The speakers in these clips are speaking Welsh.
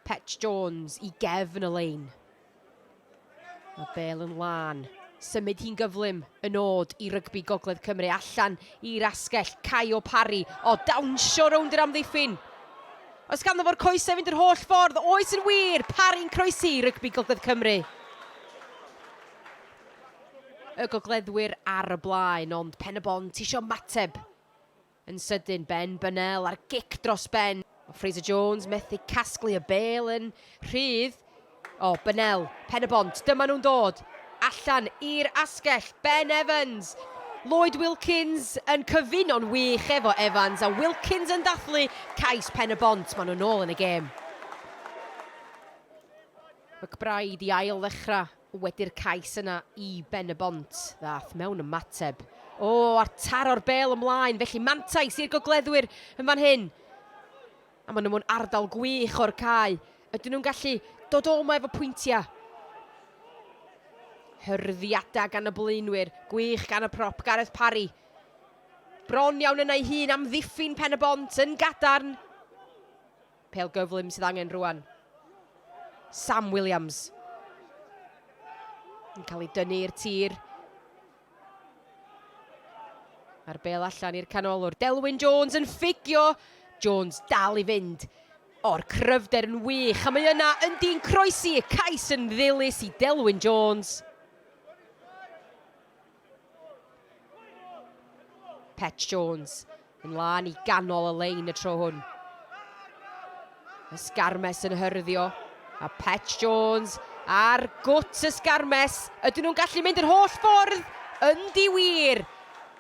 Petch Jones i gefn y lein. Mae bel yn lân. Symud hi'n gyflym, yn od i rygbi Gogledd Cymru allan i'r asgell. Caio Parry, o dawnsio rownd yr amddiffyn. Os ganddo fo'r coesau fynd yr holl ffordd, oes yn wir, Parry'n croesi i rygbi Gogledd Cymru y gogleddwyr ar y blaen, ond Pen-y-bont isio mateb. Yn sydyn, Ben Burnell ar gic dros ben. Mae Fraser Jones methu casglu y bêl yn rhydd. O, Burnell, Pen y Bont, dyma nhw'n dod. Allan i'r asgell, Ben Evans. Lloyd Wilkins yn cyfuno'n wych efo Evans a Wilkins yn dathlu cais Pen y Bont. Maen nhw'n ôl yn y gêm. McBride i ail ddechrau. Wedi'r cais yna i Ben-y-bont, ddaeth mewn ymateb. O! a taro'r bêl ymlaen, felly mantais i'r gogleddwyr yn fan hyn. A maen nhw mewn ardal gwych o'r cae. Ydyn nhw'n gallu dod o yma efo pwyntiau? Hyrddiadau gan y blaenwyr, gwych gan y prop, Gareth Parry. Bron iawn yna ei hun, amddiffyn Pen-y-bont yn gadarn. Pêl gyflym sydd angen rwan. Sam Williams. Yn cael ei dynnu i'r tir. Mae'r bel allan i'r canolwr. Delwyn Jones yn ffigio. Jones dal i fynd. O'r cryfder yn wych. A mae yna yn dyn croesi y cais yn ddilys i Delwyn Jones. Pet Jones yn lan i ganol y lein y tro hwn. Ysgarmes yn hyrddio. A Pet Jones ar gwt ysgarmes. Ydyn nhw'n gallu mynd yr holl ffordd? Yndi wir!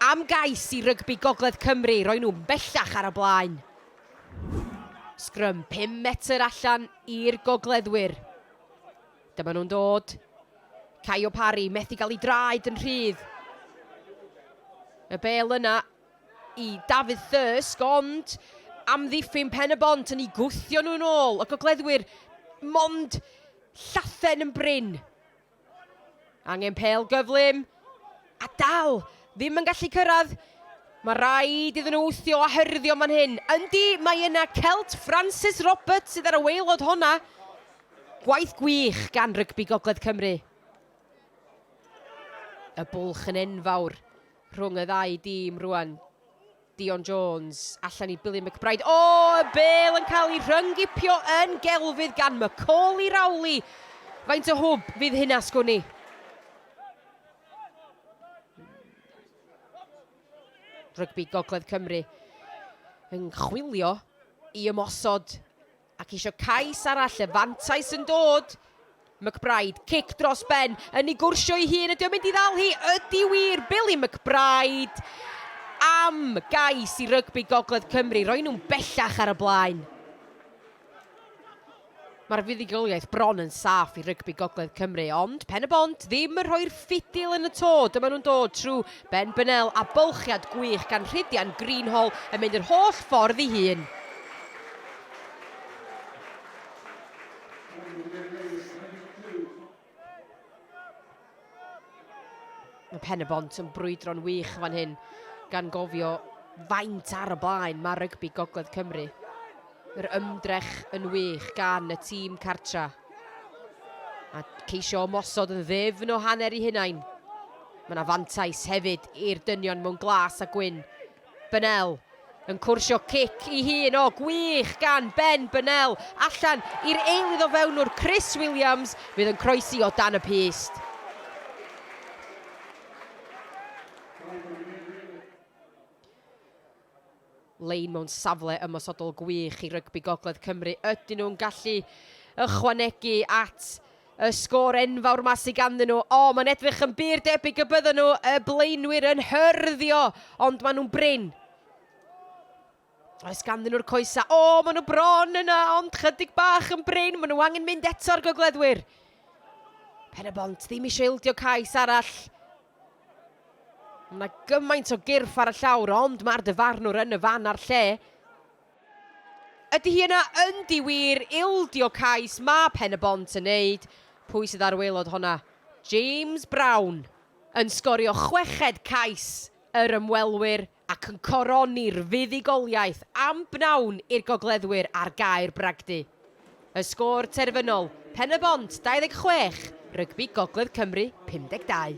Am gais i rygbi Gogledd Cymru, roi nhw bellach ar y blaen. Sgrym 5 metr allan i'r gogleddwyr. Dyma nhw'n dod. Caio Parry, methu gael ei draed yn rhydd. Y bel yna i Dafydd Thirsk, ond amddiffyn Pen y Bont yn ei gwthio nhw'n ôl. Y gogleddwyr mond llathen yn brin. Angen pel gyflym, a dal, ddim yn gallu cyrraedd. Mae rhaid iddyn nhw wthio a hyrddio man hyn. Yndi, mae yna Celt Francis Roberts sydd ar y waelod honna. Gwaith gwych gan Rygbi Gogledd Cymru. Y bwlch yn enfawr rhwng y ddau dîm rwan. Dion Jones allan i Billy McBride. O! Y bêl yn cael ei rhyng-gipio yn gelfydd gan Macauley Rowley. Faint o hwb fydd hyn asgwn i? Rygbi Gogledd Cymru yn chwilio i ymosod Ac isio cais arall y fantais yn dod. McBryde, cic dros ben, yn ei gwrsio ei hun, ydy o'n mynd i ddal hi? Ydy wir, Billy McBryde! Am gais i rygbi Gogledd Cymru, roi nhw'n bellach ar y blaen. Mae'r fuddugoliaeth bron yn saff i rygbi Gogledd Cymru, ond Pen-y-bont ddim yn rhoi'r ffidil yn y to, dyma nhw'n dod trwy Ben Bennell a bylchiad gwych gan Rhydian Greenhall yn mynd yr holl ffordd ei hun. Mae Pen-y-bont yn brwydro'n wych fan hyn, gan gofio faint ar y blaen mae rygbi Gogledd Cymru. Yr ymdrech yn wych gan y tîm cartra. A ceisio ymosod yn ddifn o hanner i hunain. Mae yna fantais hefyd i'r dynion mewn glas a gwyn. Bennell yn cwrsio cic i hun. O, gwych gan Ben Bennell. Allan i'r eilydd o fewnwr Chris Williams fydd yn croesi o dan y pyst. lein mewn safle ymosodol gwych i rygbi Gogledd Cymru, ydyn nhw'n gallu ychwanegu at y sgôr enfawr 'ma sy ganddyn nhw? O, mae'n edrych yn bur debyg y byddan nhw, y blaenwyr, yn hyrddio, ond maen nhw'n brin. Oes ganddyn nhw'r coesa? O, maen nhw bron yna, ond chydig bach yn brin, maen nhw angen mynd eto'r gogleddwyr. Pen y bont, ddim eisiau ildio cais arall. Mae gymaint o gyrff ar y llawr, ond mae'r dyfarnwr yn y fan a'r lle. Ydy hi yna yn di wir ildio cais mae Pen-y-bont yn neud? Pwy sydd ar waelod honna? James Brown yn sgorio chweched cais yr ymwelwyr. ac yn coroni'r fuddugoliaeth am bnawn i'r gogleddwyr ar gae'r bragdy. Y sgôr terfynol, Pen-y-bont 26, Rygbi Gogledd Cymru 52.